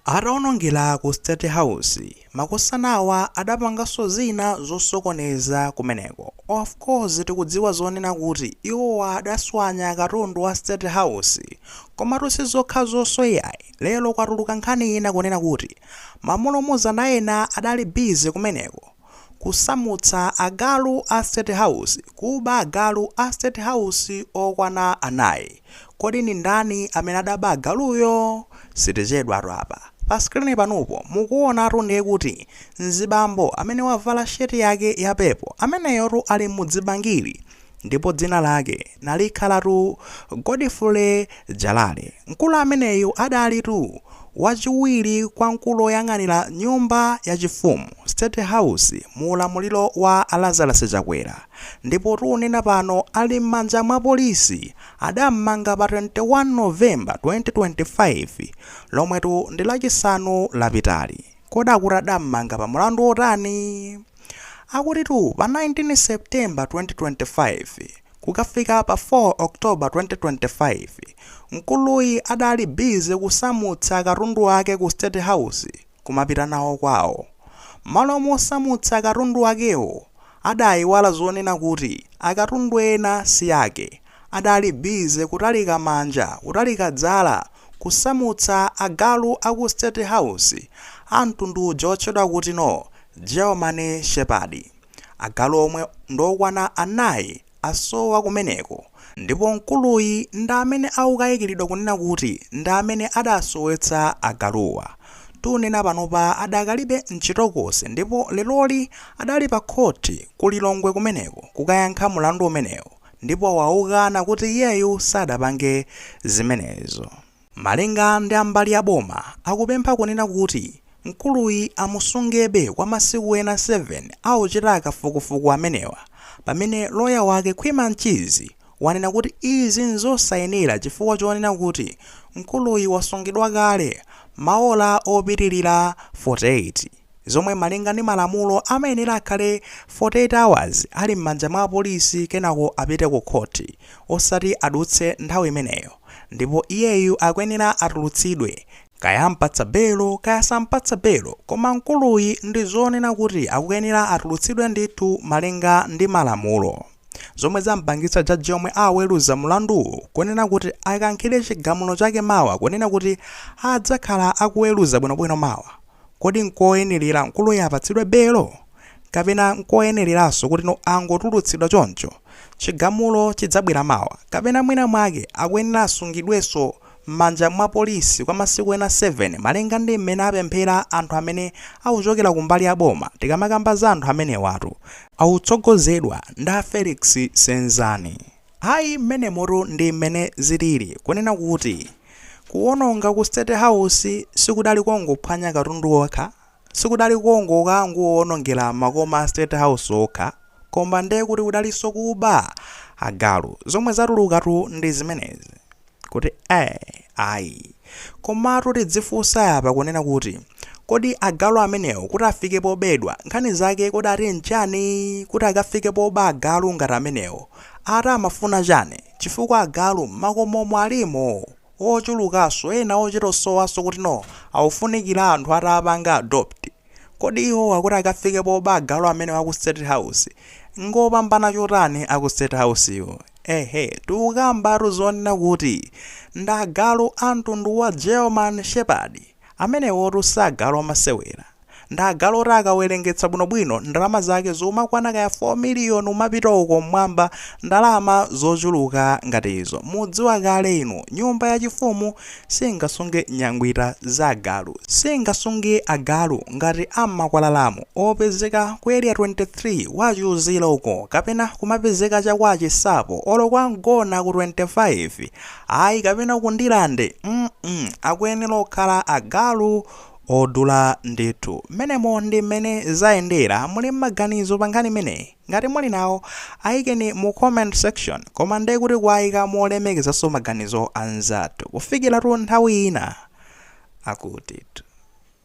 Ataonongera ku State House, makosanawa adapanganso zina zosokoneza kumeneko. Of course tikudziwa zonena kuti iwowa adaswanya katundu wa State House. Komatu sizokhazonso iyayi, lero kwatuluka nkhani ina kunena kuti mamulumuzana ena adali busy kumeneko. kusamutsa agalu a state house, kuba agalu a state house okwana anayi, kodi ndi ndani amene adaba agaluyo? Sitichedwatu apa, pa screen panupo mukuonatu ndiye kuti mzibambo amene wavala shirt yake ya purple ameneyotu ali m'dzibangili, ndipo dzina lake nalikhalatu Godfrey Jalale. Mkulu ameneyu adalitu wachiwiri kwa mkulu woyang'anira nyumba yachifumu, State House, mu ulamuliro wa a Lazarus Chakwera ndipo tikunena pano ali m'manja mwa apolisi. Adam'manga pa 21 November 2025, lomwetu ndi Lachisanu lapitali. Kodi akuti adammanga pa mlandu wotani? Akutitu pa 19 September 2025 kukafika pa 4 October 2025, mkuluyi adali busy kusamutsa katundu wake ku State House kumapita nawo kwawo. Mmalo mosamutsa katundu wakewo, adayiwala zonena kuti akatundu ena si ake, Adali busy kutalika manja kutalika dzala kusamutsa agalu aku state house a mtundu uja otchedwa kuti no German Shepherd. Agalu omwe ndokwana anayi asowa kumeneko ndipo mkuluyi ndi amene akukayikiridwa kunena kuti ndi amene adasowetsa agaluwa. Tunena panopa adakalibe mchitokosi ndipo leroli adali pa court ku Lilongwe kumeneko kukayankha mulandu umenewo. ndipo waukana kuti iyeyu sadapange zimenezo. Malinga ndi a mbali ya boma, akupempha kunena kuti mkuluyi amusungebe kwa masiku ena 7 akuchita kafukufuku amenewa, pamene loya wake Khwima Mchizi wanena kuti izi n'zosayenera chifukwa chonena kuti mkuluyi wasungidwa kale maola opitilira 48. zomwe malinga ndi malamulo amayenera akhale 48 hours ali mmanja mwa apolisi kenako apite ku khoti osati adutse nthawi imeneyo ndipo iyeyu akuyenera atulutsidwe kaya ampatsa belo kaya sampatsa belo koma mkuluyi ndi zonena kuti akuyenera atulutsidwe ndithu malinga ndi malamulo zomwe zampangitsa jaji yemwe aweruza mlanduwu kunena kuti akankhire chigamulo chake mawa kunena kuti adzakhala akuweruza bwinobwino mawa Kodi n'koyenerera mkuluyu apatsidwe belo? Kapena n'koyenereranso kutino angotulutsidwa choncho? Chigamulo chidzabwera mawa. Kapena mwinamwake akuyenera asungidwenso m'manja mwa polisi kwa masiku ena 7, malinga ndi mmene apemphera anthu amene akuchokera kumbali ya boma. Tikamakamba za anthu amenewatu, akutsogozedwa ndi a Felix Senzani. Ayi, mmenemotu ndi mmene zilili. Kunena kuti kuwononga ku State House sikudali kongophwanya katundu kokha, sikudali kongoka- kongowonongera makoma a State House okha, koma ndiye kuti kudalinso kuba! Agalu, zomwe zatulukatu ndi zimenezi. kuti eh ayi komatu tidzifunsa apa kunena kuti kodi agalu amenewo kuti afike pobedwa nkhani zake kodi ati nchani kuti akafike poba agalu ngati amenewo ati amafuna chani chifukwa agalu m'makomomo alimo ochulukanso ena ochitosowanso kuti no akufunikira anthu atapanga adopt Kodi iwowa kuti akafike poba agalu amenewa aku state house ngopambana chotani aku state housewo ehe tikukambatu zonena kuti ndi agalu amtundu wa German shepherd amenewotu si agalu amasewera ndi agalu oti akawerengetsa bwinobwino ndalama zake zomakwana kaya 4 million kumapita uko mmwamba ndalama zochuluka ngati izo mudziwa kale inu nyumba yachifumu singasunge nyangwita za agalu singasunge agalu ngati ammakwalalamu opezeka ku area 23 kwa Chiuzira uko kapena kumapezeka cha kwa Chinsapo olo kwa mgona ku 25 ayi kapena ku Ndirande mm -mm. akuyenera kukhala agalu odula ndithu mmenemo ndi mmene zayendera muli m'maganizo pa nkhani imeneyi Ngati muli nawo, ayikeni mu comment section, koma nde kuti kuwayika molemekezanso maganizo anzathu, kufikiratu nthawi ina akutitu.